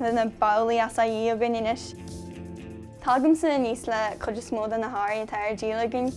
le na babhlaí açaí againn anois. Tagaimse aníos le cuid is mó de na hearraí atá ar díol againn.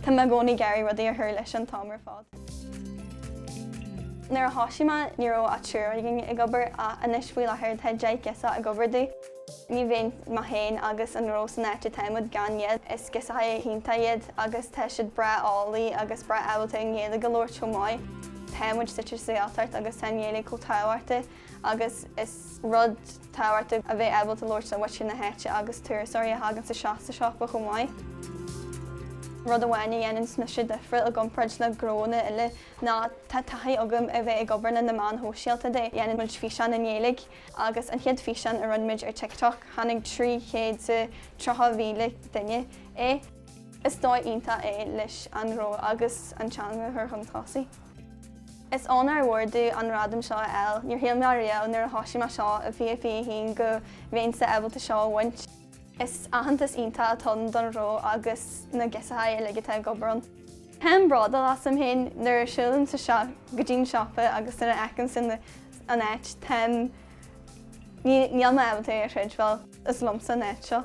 Tá mé i gcónaí ag iarraidh rudaí a chur leis an t-am ar fad. Nuair a thosaigh mé, ní raibh ach triúr againn ag obair ach anois faoi láthair tá deich girseach ag obair do. Ní bheinn mé féin agus an gnó san áit atáimid gan iad. Is girseachaí iontach iad agus tá siad breá fáilí agus breá ábalta an Ghaeilge a labhairt chomh maith. Táimid suite sa Ghaeltacht agus tá an Ghaeilge chomh tábhachtach agus is rud tábhachtach a bheith ábalta labhairt le muintir na háite agus turasóirí a thagann isteach sa siopa chomh maith. Rud amháin a dhéananns mise difriúil i gcomparáid le gnóanna eile ná tá taithí agam a bheith ag obair le na meáin shóisialta de dhéanann muid físeáin i nGaeilge. Agus an chéad físeán a roinn muid ar TikTok, chonaic 330,000 duine é. Is dóigh iontach é leis an ngnó agus an teanga a chur chun tosaigh. Is onóir mhór domh an gradam seo a fháil. Níor shíl mé riamh nuair a thosaigh mé seo i 2021 go mbeinnse ábalta seo a bhaint. Is aitheantas iontach atá ann don ghnó agus na girseachaí uilig atá ag obair ann. Táim bródúil asam féin nuair a siúlaim isteach go dtí'n siopa agus nuair a fheicimse na. an áit, táim, níl mé ábalta é a chreidbheáil, is liomsa an áit seo.